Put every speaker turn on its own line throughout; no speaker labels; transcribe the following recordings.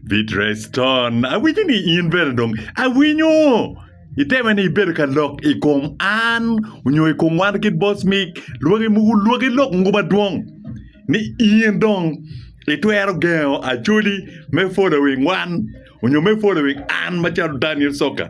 Bit Reston, awinyo ni in bene dong awinyo iteme ni ibedo ka lok i kom an onyo i kom wan kit boss me lwaki mogo lwaki lok mogo madwong ni in dong itwero gengo Acholi me following wan onyo me following an macalo Daniel Soccer.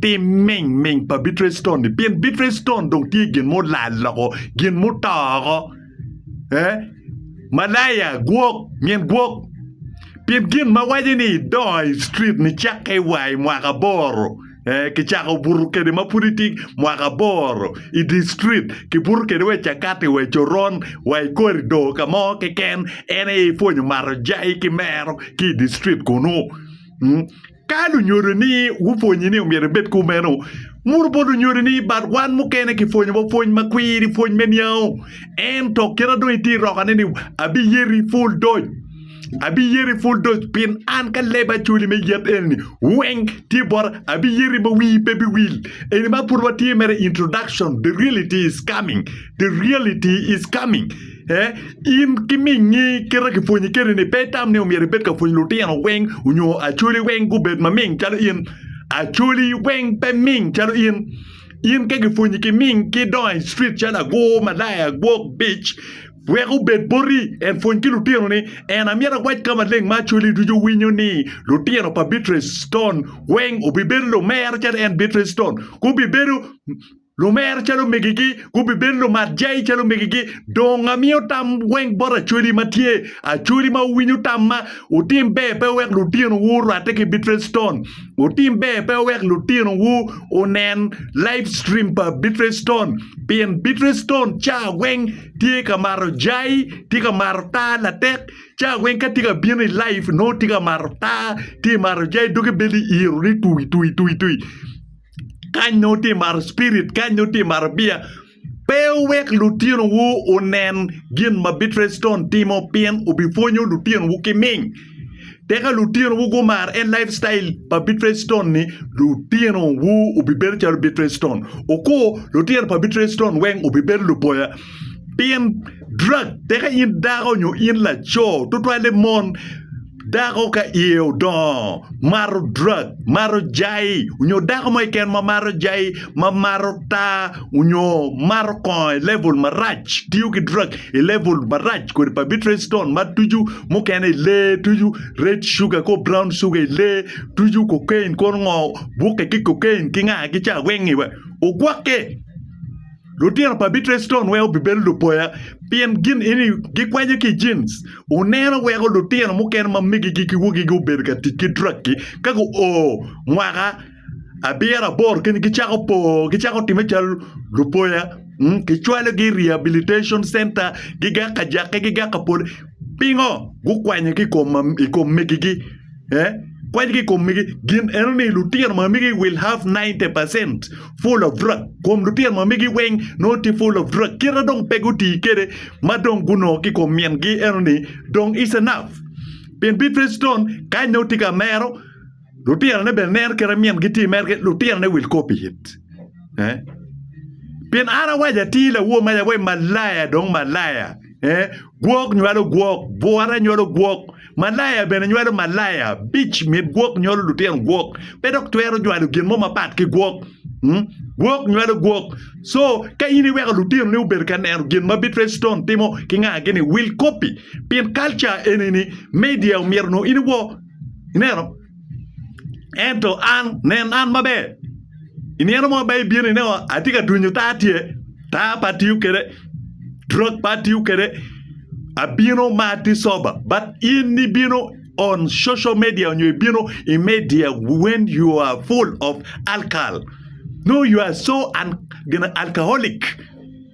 pi mingming pa Bicrestone-ni, pien Bicrestone dong tye gin mulal loko, gin muto oko. Eh? Malaya, gwok, nyen gwok. Pien gin ma waco ni idongo i street ni cakke i wa i mwaka aboro, eh, kicako buto kede ma pud itye mwaka aboro i di street, kibuto kede wa i cakati, wa i coron, wa i korido ka mo keken, en aye ipwonyo mato jai ki mero ki i di street kunu. Mm. Ka lunyodo ni wupwonyi ni omyero ibed kumeno, muru bot lunyodo ni bat wan mukene kipwonyo wa pwony ma kwiri, pwony me niango. Ento kina dong itye irokane ni abiyeri i pul doc, abiyeri i pul doc pien an ka leba acoli me yet eni weng tye bota, abiyeri ma wii pe biwil. Eni ma pud watye mere introduction, the reality is coming, the reality is coming. in ki mingi kite kipwonyi kene ni pe itam ni omyero ibed ka pwonyo lutino weng onyo acholi weng gubed ma ming calo in acholi weng pe ming calo in in ka gipwonyi ki ming ki idongo i cwit calo agur malaya gwok bic wek obed boti en pwony ki lutino ni en amyero awac ka maleng ma acholi ducu winyo ni lutino pa Beatrice Stone weng obibedo lumero calo en Beatrice Stone gubibedo Lumer calo megigi, gubibed lumat jai calo megigi. Dong amiyo tam weng bot acholi ma tye, acholi ma wuwinyo tamma, Wutim ber pe wek lutinowu orwatte ki Beatrice Stone. Wutim ber pe wek lutinowu onen livestream pa Beatrice Stone, pien Beatrice Stone ca weng tye ka mato jai, tye ka mato taa latek. Ca weng ka tye ka bino i live nongo tye ka mato taa, tye mato jai, doge beli iro ni tui tui tui tui. Kany nongo tye mato spirit, kany nongo tye mato bia. Pe wuwek lutinowu onen gin ma Beatrice Stone timo pien obipwonyo lutinowu ki ming. Tika lutinowu gumar en lifestyle pa Beatrice Stone ni? Lutinowu obibedo calo Beatrice Stone. Okur lutino pa Beatrice Stone weng obibedo luboya pien drug. Tika in dako nyo in laco tutwalle mon Dako ka iye odongo, mato drug, mato jai, onyo dako mo keken ma mato jai, ma mato taa, onyo mato kongo i level marac, tiyo ki drug i level marac kodi pabitresitone ma tucu mukene i lee, tucu red sugar kor brown sugar i lee, tucu cocaine kono ngo bukke ki cocaine ki nga ki ca weng-ngi wek ogwokke. Lutino pa Bitreston weko bibedo lupoya pien gin eni gikwanyo ki i jins. Wuneno weko lutino mukene ma migigi ki wogigi obedo ka tic ki drug-gi ka guo mwaka abiro aboro keni gicako po, gicako timme calo lupoya. Mm, Kicwalogi i rehabilitation center, gigak ka jakke, gigak ka pole. Pingo? Gukwanyo ki i kom mam- i kom migigi. Kwany ki i kom megi. Gin eno ni lutino ma megi will have 90 percent full of drug. Kom lutino ma megi weng nongo tye full of drug. Kite dong pe guti kede ma dong gunongo ki kom min gi eno ni dong is enough. Pien Beatrice Stone kany nongo tye ka mero lutino ne bene neno kite min gi tye mere kit lutino ne will copy it. Eh? Pien an awaco atir lawor ma yabo malaya dong malaya. Eh? Gwok nywalo gwok, bwora nywalo gwok. Malaya bene nywalo malaya, bic mit gwok nywalo lutino gwok, pe dok twero nywalo gin mo mapat ki gwok. Mm? Gwok nywalo gwok. So, ka in iweko lutinoni obedo ka neno gin ma Beatrice Stone timo ki ngagi-ni, wil kopi. Pin kalca eni-ni, media omyero nongo in iwo. Ineno? Ento an, nen an maber. I nino mo ba ibino ineno atye ka dunyo taa tye, taa pe atiyo kwede, drug pe atiyo kwede, abino ma atye sober but in ibino on social media nyo ibino i media when you are full of alkal nongo you are so gin alkaholic.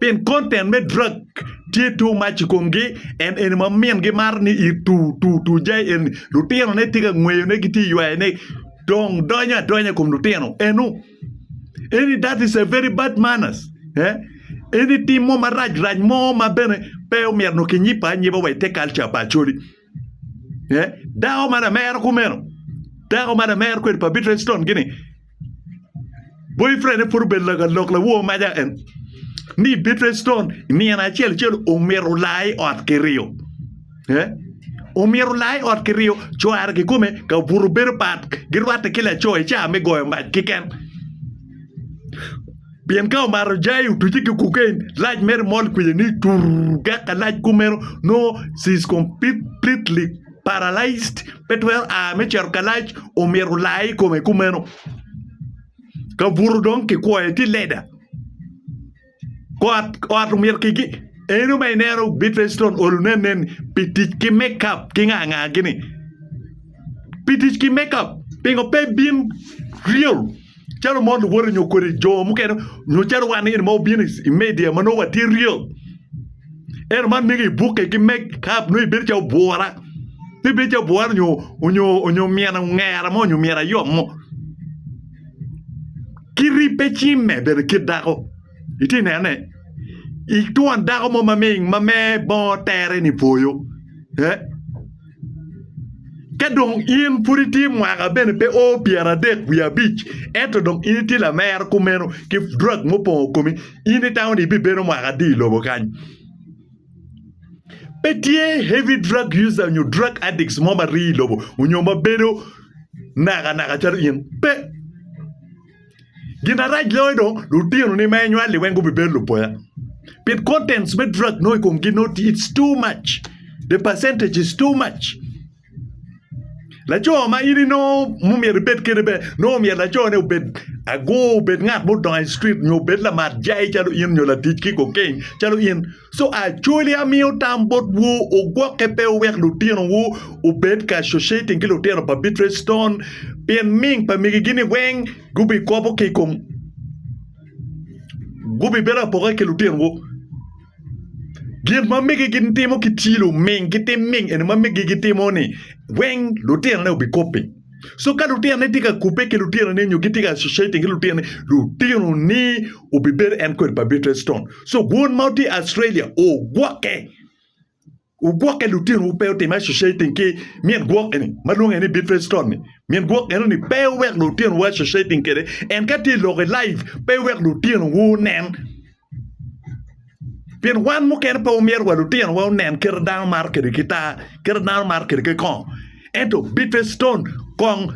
pien content me drug tye too much i komgi and eni ma min gimaro ni i tur tur tur jai eni lutino ne tye ka ngweyo ne gitye ka ywayo ne dong donyo adonya i kom lutino eno eni that is a very bad manners eni tim mo marac rac mo ma bene pe omyero nongo kinyipo anyipa wa i te culture pa Acholi. eh, dako ma lamero kumeno dako ma lamero kwede pa Beatrice Stone gini boyfriend pud obedo lagalok lawo maja en ni Beatrice Stone nino acel acel omito lai ot kiriyo eh omito lai ot kiriyo cware kikome ka obuto bedo pat girwatte ki laco i caa me goyo mac kiken Pien ka omato jai, otuce ki kokain, lac mere mol kwiye ni curr dok ka lac kumeno nongo she is completely paralyzed, pe twero a me cito ka lac, omyero olaye i kome kumeno. Ka buto dong kikwoyo tye leda. Kot ot omyero kigi eno ma ineno Bidvestone olo ne aneni pi tic ki makeup ki nga nga gini. Pi tic ki makeup pingo pe bin real. calo mon luwote nyo kodi jo mukene nyo calo wan eni ma wabino i media ma nongo watye real ento man mege ibuke ki meg ka nongo ibedo calo bwora nongo ibedo calo bwora nyo onyo onyo omyena ongera mo onyo omyera ayom mo ki ribbe cimme bene kit dako itye nenone itwon dako mo ma me bongo tere ni pwoyo Ka dong in pud itye mwaka bene pe o pyeradek wiye abic ento dong in itye lamero kumeno ki drug mo opongo komi in itamo ni ibibedo mwaka adi i lobo kany? Pe tye heavy drug user nyo drug addicts mo ma rii i lobo nyo ma bedo nakanaka calo in. Pe! Gin arac loyo dong lutinoni ma inywali weng gubibedo lupoya pien contents me drug nongo i komgi nongo tye it's too much the percentage is too much laco ma in inongo mumyero ibed kede bene nongo myero lacone obed agur obed ngat mudongo i cit nyo obed lamat jai calo in nyo latic ki kokeng calo in. Co actually amiyo tam bot wu ugwokke pe wuwek lutino wu obed ka associating ki lutino pa Beatrice Stone pien ming pa migi gi ni weng gubi kobo ki ikom gubi bedo apoka ki lutino wu gin ma migi gi timo ki tyelo ming gitim ming eni ma migi gi timo ni weng lutino ne obi kopi. So ka lutinone tye ka kubbe ki lutinone nyo gitye ka associating ki lutinone, lutinoni obibedo en kwed pa Beatrice Stone. So won ma tye Australia ogwokke. Ogwokke lutinowu pe otime associating ki min gwok eni ma lwonge ni Beatrice Stone ni. Min gwok enoni pe owek lutinowu associating kwede. En ka tye i lokke live pe iwek lutinowu onen. pien wan mukene pe wamyero wa lutinowa onen kite dano maro kede gitar kite dano maro kede ki kong ento bite citon kong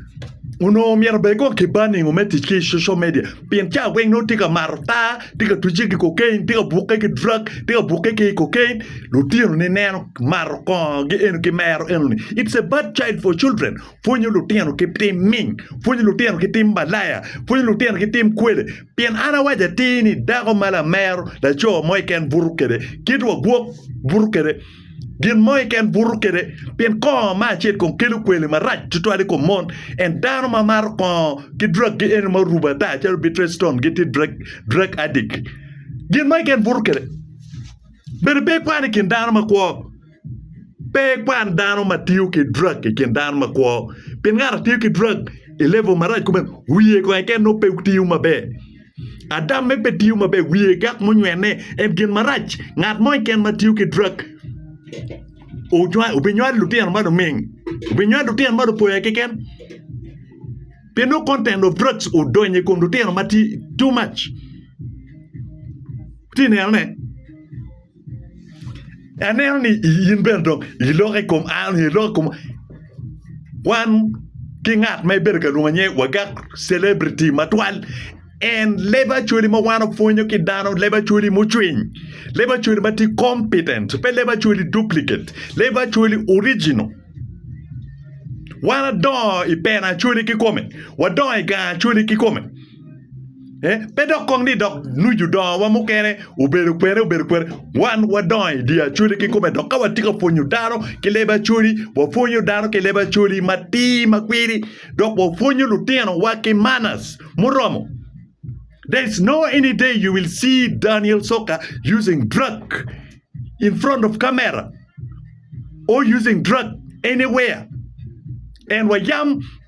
onongo myero bed kong kibaningo me tic ki social media pien cawa weng nongo tye ka mato tar tye ka twicce ki kokain tye ka bukke ki drug tye ka bukke ki kokain lutinoni neno mato kongo gi eno ki mero enoni it's a bad child for children pwonyo lutino ki tim ming pwonyo lutino ki tim malaya pwonyo lutino ki tim kwele Pien an awaco atir ni, dako ma lamero laco mo keken buto kwede, kit wa gwok buto kwede gin mo keken buto kwede, pien kongo ma acel kong kelo kwele marac tutwal i kom mon. En dano ma maro kongo ki drug gi eno ma orubo ata calo bitreston giti drug drug addict. Gin mo keken buto kwede. Bedo pe ikwan i kin dano makwo. Pe ikwan dano ma tiyo ki drug i kin dano makwo. Pien ngat atiyo ki drug i level marac kome, wiye kong keken nongo pe tiyo maber. Adamme pe tiyo maber, wiye dok munywene en gin marac. Ngat mo keken ma tiyo ki drug obinywalo lutino ma luming, obinywalo lutino ma lupoya keken. Pien nongo content of drugs odonyo i kom lutino matye too much. Wutye ka nenone? Aneno ni in bene dong iloko i kom an, iloko i kom wan ki ngat ma ibedo ka lwongo ni wagak celebrity matwal en leb Acholi ma wan wapwonyo ki dano leb Acholi mucwiny leb Acholi ma tye kompitent pe leb Acholi dupliket leb Acholi orijino wan wadongo i peno Acholi kikome wadongo i gang Acholi kikome. Pe dok kong ni dok nucu dongowa mukene obedo kwene obedo kwene, wan wadongo i dye Acholi kikome dok ka watye ka pwonyo dano ki leb Acholi wapwonyo dano ki leb Acholi matir ma kwidi dok wapwonyo lutinowa ki manners muromo. There is no any day you will see Daniel Soka using drug in front of camera or using drug anywhere and wayam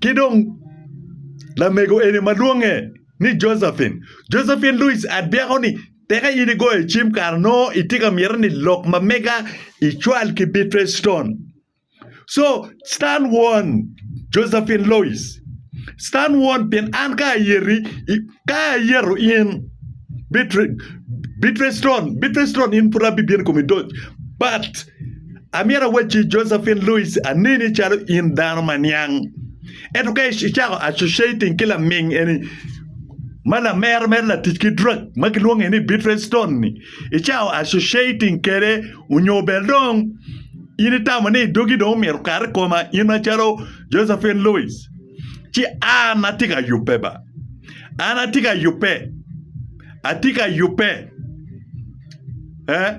Ki dong lamego eni ma lwonge ni Josephine. Josephine Louis adyako-ni, teka in igoyo cim kara nongo itye ka miti ni lok ma mega icwal ki Beatrice Stone. Co Stan won Josephine Louis. Stan won pien an ka ayeti ka ayeto in Beatrice Stone, Beatrice Stone in pud abibino i komi doc but Amyero awacci, Josephine Louis, aneni calo in dano ma niang. Ento ka icako associating ki laming eni ma lamero mere latic ki drug ma kilwonge ni Beatrice Stone ni, icako associating kede onyo bel dong in itamo ni dogi dong omyero kar i koma in ma calo Josephine Louis. Ci an ati ka yubbe ba. An ati ka yubbe. Ati ka yubbe. Eh?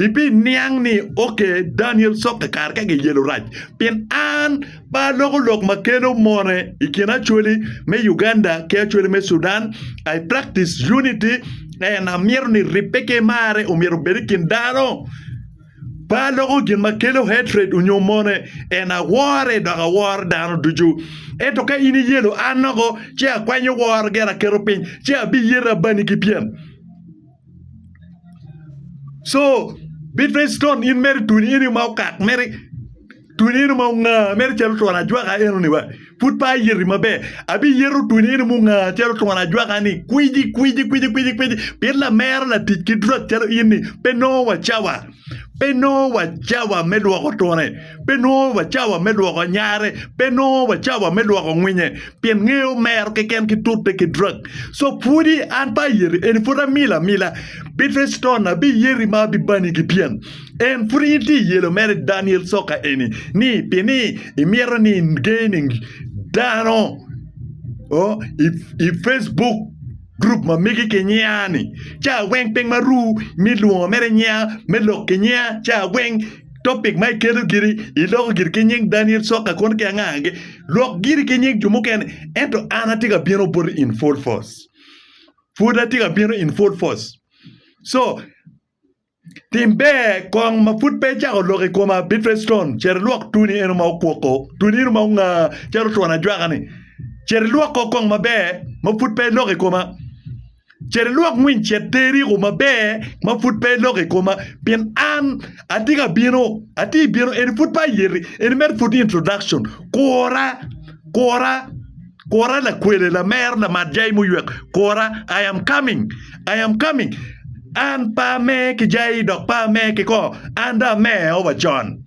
Ibiniang ni, Ok, Daniel sokke kare ka giyelo rac, pien an pe aloko lok ma kelo mone i kin Acholi me Uganda ki Acholi me Sudan. I practice unity and amyero ni ribbe ki marre omyero obed i kin dano. Pe aloko gin ma kelo hatred onyo mone and awore dok aworo dano ducu. Ento ka in iyelo an oko ci akwanyo woro gire aketo piny ci abiyere abani ki pyem. So bit face stone in mere twoni eno ma okak mere twoni eno ma ongaa mere calo twon ajwaka enoni wa pud pe ayeti maber abiyeto twoni eno ma ongaa calo twon ajwaka-ni kwiji kwiji kwiji kwiji pien lamera latic ki dwak calo in-ni pe nongo wa cawa. Pe nongo wa cawa me lwoko twone, pe nongo wa cawa me lwoko anyare, pe nongo wa cawa me lwoko ngwinye, pien ngeye omero keken ki tute ki drak. So pwodi an pe ayeti, eni pwod amilo amila. Bitheston abiyeti ma abibani ki pien en pwod in tye iyelo mere i Daniel coka eni, ni pi ni imito ni inge ning dano i Facebook. Gurup ma megi kinyea-ni cawa weng piny ma ru me lwongo mere nyea me lok kinyeya cawa weng topic ma iketo giri iloko giri ki nying Daniel Soka kono ki anga anga lok giri ki nying jo mukene ento an atye ka bino boti in full force pud atye ka bino in full force so Tim ber kong ma pud pe icako lok i koma, Beatrice Stone. Cito ilwok tuni eno ma okwoko, tuni eno ma onga calo otwon ajwaka-ni. Cito ilwok kor kong maber ma pud pe iloko i koma. Cito ilwok ngwiny cet teriku maber ma pud pe iloko i koma, pien an atye ka bino, atye i bino. Eni pud pe ayeti, eni mere pud introduction. Kura, kura. Kora lakwene, lamer, lamat jai muywek, kora, I am coming, I am coming. An pe ame ki jai dok pe ame ki ko, an dong ame eo wa con.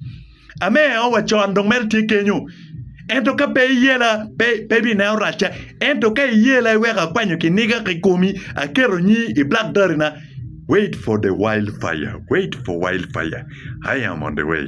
Ame eo wa con dong mere tye kenyo. Ento ka pe iyela, pe, pe ibineno racca. Ento ka iyela iweko akwanyo kiniga ki komi, aketo nyi i black dari na. Wait for the wild fire, wait for wild fire, I am on the way.